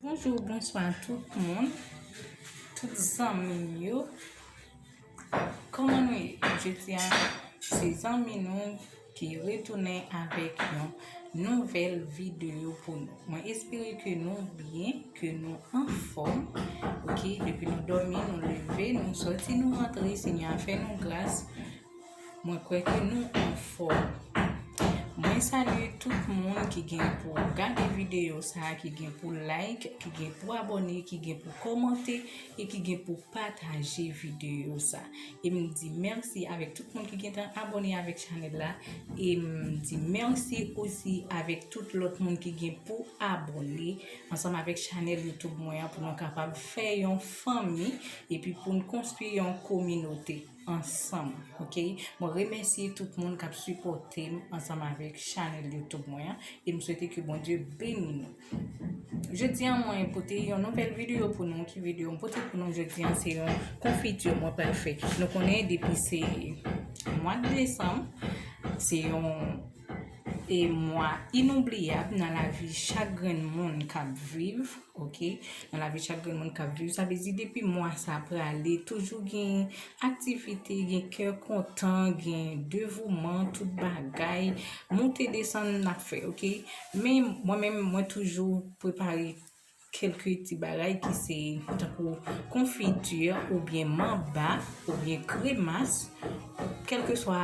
Bonjou ou bonswa tout moun, tout zanmi m yo, kòman nou ye? Jodi a se zanmi nou ki retounen avèk yon nouvèl videyo pou nou. Mwen espere ke nou byen, ke nou anfòm, ok, depi nou dòmi, nou leve, nou sòti, nou rantre, Senyè a fè nou gras. Mwen kwè ke nou anfòm. Mwen salye tout moun ki gen pou gade videyo sa a, ki gen pou like, ki gen pou abone, ki gen pou komante, e ki gen pou pataje videyo sa. E m di mèsi avèk tout moun ki gen tan abone avèk chanèl la, e m di mèsi osi avèk tout lòt moun ki gen pou abone ansanm avèk chanèl YouTube mwen an pou nou kapab fè yon fanmi, epi pou n konstwi yon kominote. ansanm ok mwen remèsye tout moun kap sipòtem ansanm avèk chanèl youtube mwen an e m swete ke Bondye beni nou jodi an mwen pote yon nouvèl videyo pou nou ki videyo m pote pou nou jodi an se yon konfiti mwen pral fè nou konnen depi se mwad desanm se yon e mwa inoubliyab nan lavi chak grenn moun k ap viv ok nan lavi chak grenn moun k ap viv sa vle di depi mwa sa prale toujou gen aktivite gen kè kontan gen devouman tout bagay moute desann n ap fè ok men mwen menm mwen toujou prepare Kelke ti bagay ki se tankou konfiti oubyen manba oubyen kremas kelkeswa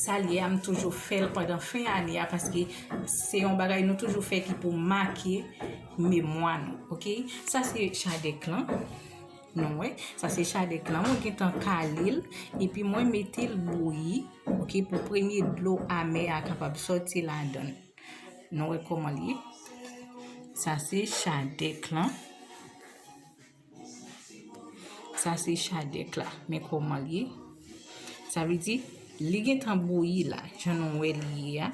sa l ye a m toujou fè l pandan fen ane a paske se yon bagay nou toujou fè ki pou make memwa nou ok sa se chadèk lan nou wè sa se chadèk lan mwen gen tan kale l epi mwen mete l bouyi ok pou premye dlo amè a kapab sòti ladan l. Nou wè koman li ye. Sa se chadèk lan. Sa se chadèk la. Men koman li ye. Sa vle di, li gen tan bouyi la. Jan nou wè li ye a.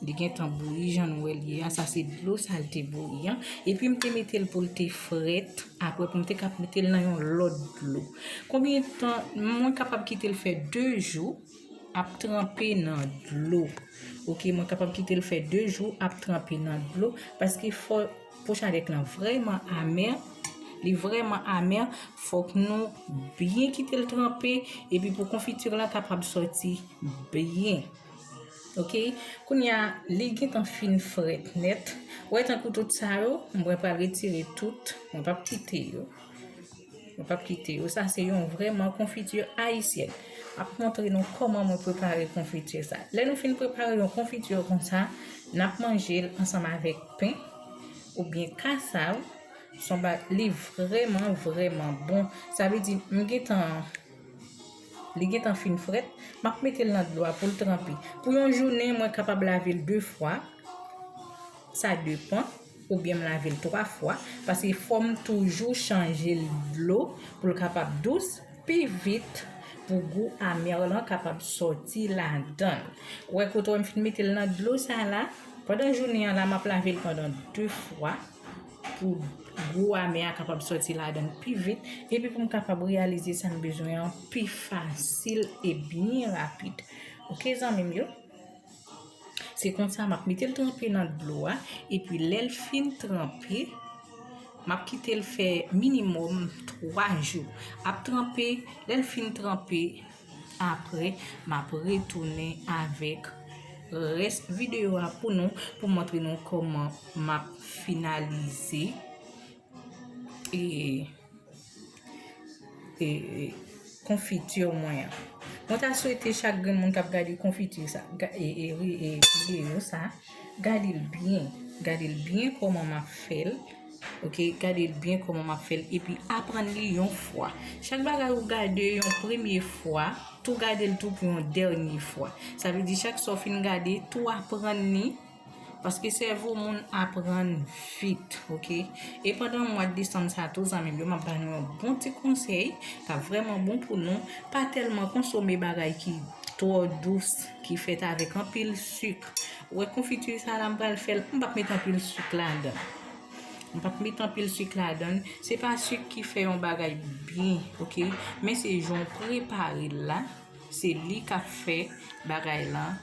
Li gen tan bouyi jan nou wè li ye a. Sa se dlo sa li te bouyi a. E pi m te mete l pou l te frèt. Apre pou m te kap mete l nan yon lòt dlo. Konbyen tan, mwen kapab kite l fè 2 jou. Ap tranpe nan dlo ok mwen kapab kite l fè 2 jou ap tranpe nan dlo paske fò pochanèk lan vrèman amè li vrèman amè fòk nou byen kite l tranpe epi pou konfiti lan kapab sòti byen ok kounye a li gentan fin frèt nèt wè tankou tout sa yo mwen pral retire tout mwen pap kite yo. Mwen pap kite yo. Sa se yon vrèman konfiti ayisyèn. Map montre nou koman mwen prepare konfiti sa. Lè nou fin prepare yon konfiti konsa, nap manje l ansanm avèk pen ou byen kasav. Son ba li vrèman vrèman bon. Sa vle di m gen tan li gen tan fin frèt, map mete l nan dlo a pou l tranpe. Pou yon jounen mwen kapab lave l 2 fwa. Sa depan. Oubyen m lave l 3 fwa, paske fò m toujou chanje l dlo pou l kapab dous pi vit pou gou amère lan kapab sòti ladan l. Ou wè kote wè m fin mete l nan dlo sa a la? Pandan jounen an la m ap lave l pandan 2 fwa pou gou amè a kapab sòti ladan l pi vit epi pou m kapab reyalize sa m bezwen an pi fasil e byen rapid. Ok zanmi m yo? Se konsa map metel tranpe nan dlo a epi lèl fin tranpe map kitel fè minimòm 3 jou ap tranpe lèl fin tranpe aprè map retounen avèk rès videyo a pou nou pou montre nou kòman map finalize. e konfitur mwen an. Mwen ta swete chak grenn moun kap gade konfitur sa, e video sa, gade l byen, gade l byen koman map fèl, ok, gade l byen koman map fèl, epi aprann li yon fwa. Chak bagay ou gade yon premye fwa, tou gade l tou pou yon dènye fwa. Sa vle di chak sa w fin gade, tou aprann li. Paske sèvo moun aprann vit ok. E pandan mwa desanm sa tou zanmim yo map ba nou yon bon ti konsèy kap vrèman bon pou nou pa tèlman konsome bagay ki twò dous ki fèt avèk anpil suk. Ou wè konfiti sa la m pral fèl m pap met anpil suk ladan. M pap met anpil suk ladan. Se pa suk ki fè yon bagay byen ok men se jan w preparel la. Se li kap fè bagay lan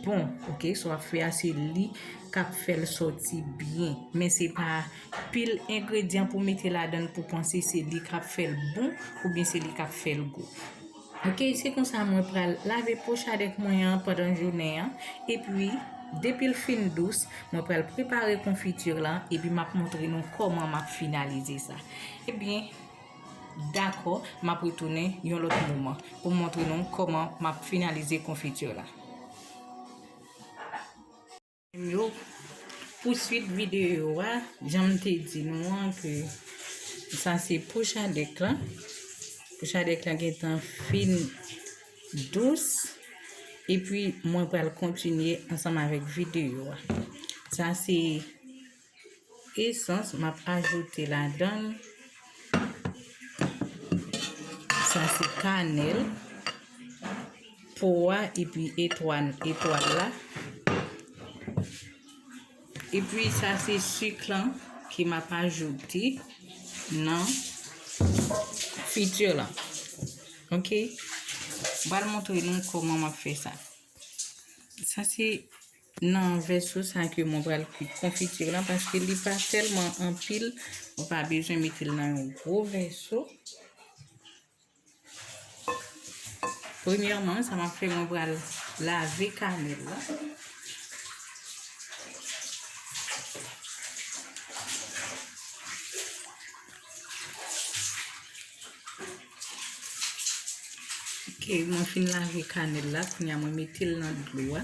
bon ok sa wap fè a se li kap fèl sòti byen men se pa pil engredyan pou mete ladann pou panse se li kap fèl bon oubyen se li kap fèl gou ok se konsa mwen pral lave pochadèk mwen an pandan jounen an epi depil fin dous mwen pral prepare konfiti lan epi map montre nou kòman map finalize sa ebyen. Dakò, m ap retounen yon lòt moman pou m montre nou kòman m ap finalize konfiti la. Pou swit videyo a, jan m te di nou an ke sa se pouchadèk la. Pouchadèk la gen tan fin dous. E pi mwen pral kontinye ansanm avèk videyo a. Sa se. Esans m ap ajoute ladan l, sa se kanèl, po a epi etwal la. Epi sa se sik lan ke m ap ajoute nan frityo lan. Ok? M pral montre nou kouman m ap fè sa. Sa se Nan vèso sa ke mwen pral kwit konfitir lan paske li pa tèlman anpil, mwen pa bezwen mete l nan yon gwo vèso. Premyèman, sa map fè mwen pral lave kanèl la. Mwen fin lave kanèl la, kounya mwen mete l nan dlo a.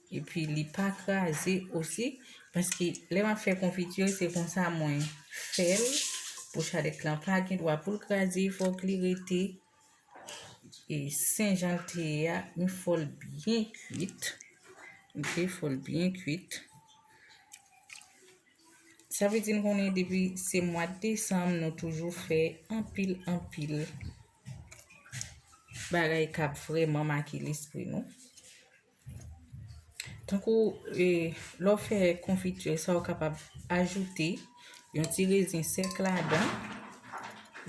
E pi li pa kraze osi. Paske lè map fè konfiti se konsa mwen fèl. Pou chalèt lan pa gen dwa poul kraze. Fòk li rete. E sen jan l te ye a. M fòl byen kuit. Ok fòl byen kuit. Sa vle di nou konnen depi se mwa desanm nou toujou fè anpil anpil bagay kap vreman make lespri nou. Tankou lè w fè konfiti sa ou kapab ajoute yon ti rezin sèk ladan.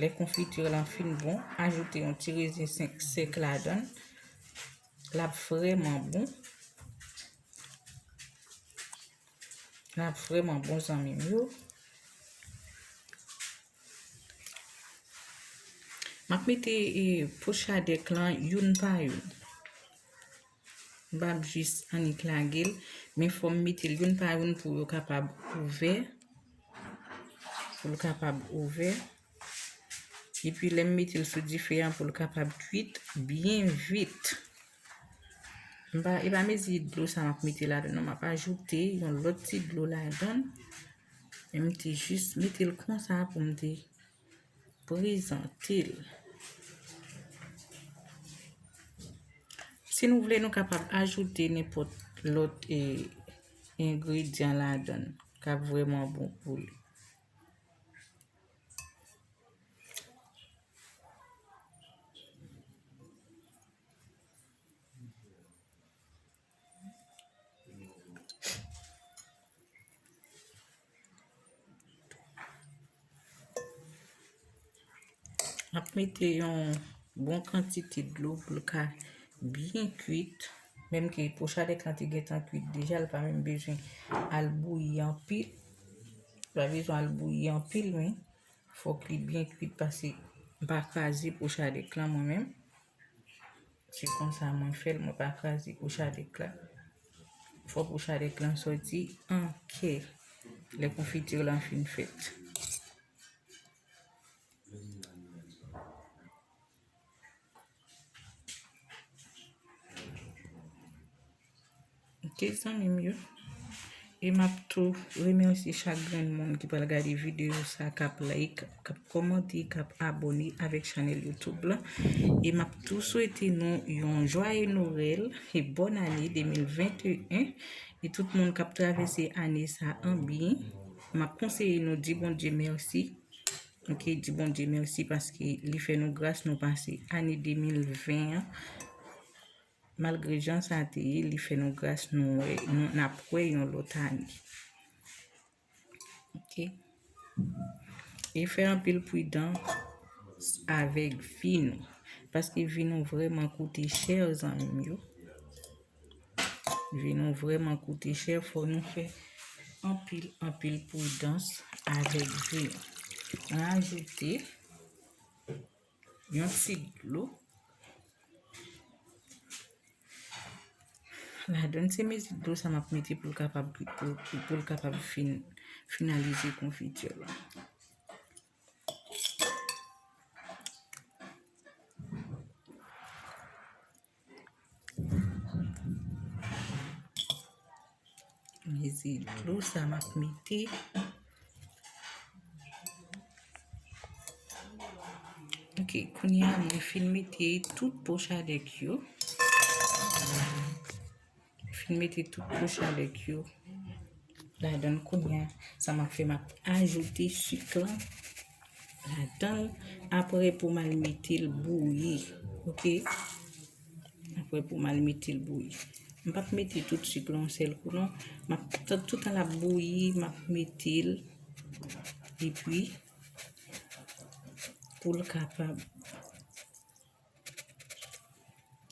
Lè konfiti w lan fin bon, ajoute yon ti rezin sèk ladan. L ap vrèman bon. L ap vrèman bon zanmim yo. Map mete poch a dek lan youn pa youn. Bab jis annik lagel. Men fòm mete youn pa youn pou yo kapab ouve. Pou yo kapab ouve. E pi lem mete l sou dife an pou yo kapab kwit byen vit. Mpa e pa mezi dlo sa map mete la. Non map ajoute yon lòt ti dlo la dan. E m te jis mete l konsa pou m te prezante l. Si nou vle nou kapab ajoute nenpòt lòt e engredyan ladan l k ap vreman bon pou l. Mwen ap mete yon bon kantite dlo pou l ka byen kuit. Menm ke pochadèk lan te gen tan kuit deja, l pa menm bezwen al bouyi anpil. L pa bezwen al bouyi anpil men, fòk li byen kuit pase m pa kraze pochadèk lan mwen menm. Se konsa mwen fè l, mwen pa kraze kou chadèk la. Fò kou chadèk lan soti an kè lè konfitir lan fin fèt. Ok zanmim yo e map tou remèsye chak grenn moun ki pral gade videyo sa kap like, kap kòmante, kap abone avèk chanèl YouTube la e map tou swete nou yon jwaye Noel e bòn ane 2021 e tout moun kap travèse ane sa an byen map konseye nou di Bondye mèsi ok di Bondye mèsi paske li fè nou gras nou pase ane 2020 an. Malgre jan sa te ye, li fè nou gras nou wè, nou, n ap wè yon lòt ane. Ok. E fè anpil pridan avèk vi nou. Paske vi nou vrèman koute chè zanmi m yo. Vi nou vrèman koute chè, fò nou fè anpil, anpil pridans avèk vi nou. An ajoute, Yon ti dlo. La donne se mezi dlo sa map mete pou l kapab pou l kapab fin finalize konfiti la. Mezi dlo sa map mete. Ok, kounya mwen fin mete tout pochadèk yo. Mwen fin mete tout kouch avèk yo ladan kounya. Sa map fè map ajoute sik la ladan apre pou mal mete l bouyi. Ok. Apre pou mal mete l bouyi. M pap mete tout sik lan yon sèl kou non. Map toutan lap bouyi map mete l. E pi pou l kapab.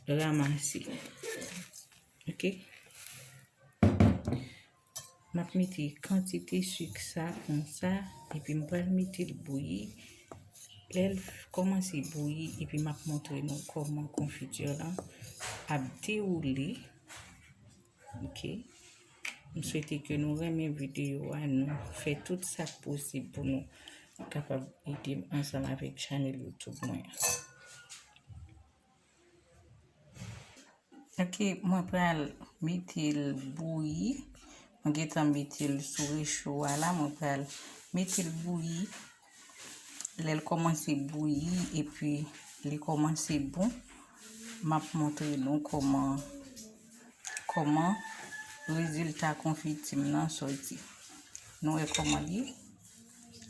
Ramase. Ok. M ap mete kantite sik sa kon sa. E pi m pral mete l bouyi. Lè l kòmanse bouyi. E pi m ap montre nou kòman konfiti lan ap dewoule. Ok. M swete ke nou renmen videyo a, nou fè tout sa k posib pou nou kapab ede m ansanm avèk chanèl YouTube mwen an. Ok, mwen pral mete l bouyi. Mwen gentan mete l sou recho a la, mwen pral mete l bouyi. Lè l kòmanse bouyi epi li kòmanse bon, m ap montre nou kòman kòman rezilta konfiti m nan soti. Nou wè kòman li ye?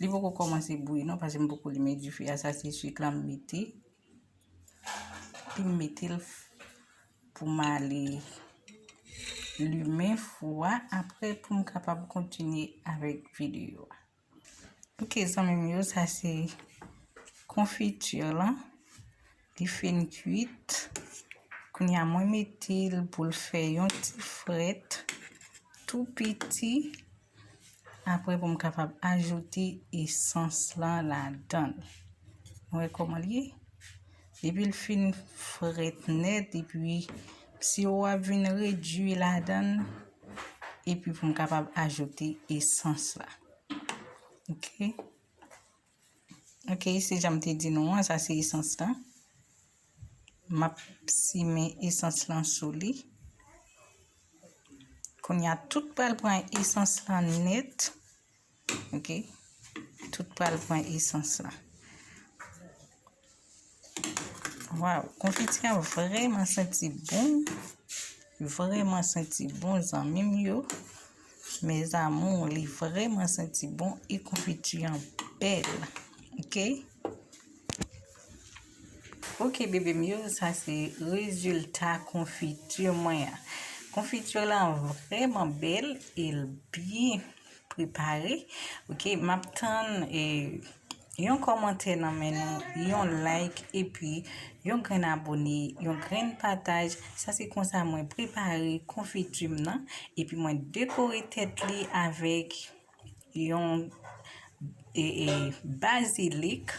Li poko kòmanse bouyi non paske m poko limen dife a. Sa se suik la m mete. Epi m mete l pou m ale limen fou a apre pou m kapab kontinye avèk videyo a. Ok zanmi m yo sa se konfitur lan li fin kuit kounya mwen metel poul fè yon ti frèt tou piti aprè pou m kapab ajoute esans lan ladanl nou wè koman l ye. Depi l fin frèt nèt epi siwo wa vin redwi ladan l epi pou m kapab ajoute esans la. Ok. Ok, se jan m te di nou an, sa se esans la. M ap simen esans lan sou li. Kounye a tout pral pran esans lan nèt. Ok. Tout pral pran esans la. Waw, konfiti an vreman senti bon. Vreman senti bon zanmim yo. Me zamou, li vreman senti bon. E konfiti an bel. Ok. Ok bebe m yo, sa se rezilta konfiti mwen. Konfiti lan vreman bel. E l byen. prepare ok map tann e yon kòmantè nan men nou yon like epi yon grenn abone yon grenn pataj sa se konsa mwen prepare konfitim nan epi mwen dekore tèt li avèk yon E bazilik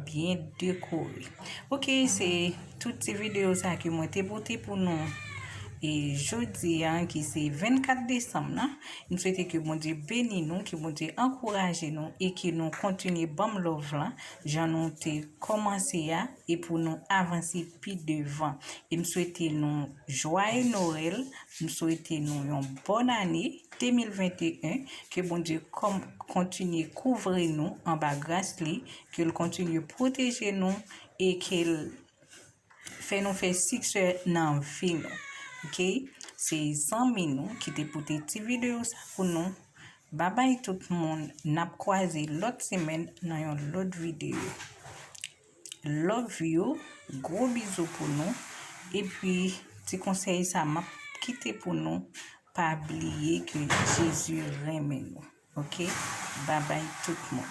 byen dekore. Ok, se tout ti video sa ki mwen te pote pou nou. E jodi an ki se 24 Desem nan, m swete ke Bondye beni nou, ke Bondye ankouraje nou e ke nou kontinye banm love lan jan nou te komanse a e pou nou avanse pi devan. E m swete nou jwaye Noel, m swete nou yon bon ane. 2021 ke Bondye kòm kontinye kouvri nou anba gras li ke l kontinye pwoteje nou e ke l fè nou fè siksè nan vi nou ok se zanmi nou ki te pote ti video sa pou nou babay tout moun nap kwaze lòt semèn nan yon lòt video. Love you gwo bizou pou nou epi ti konsèy sa map kite pou nou pa bliye ke Jezi renmen nou ok babay tout moun.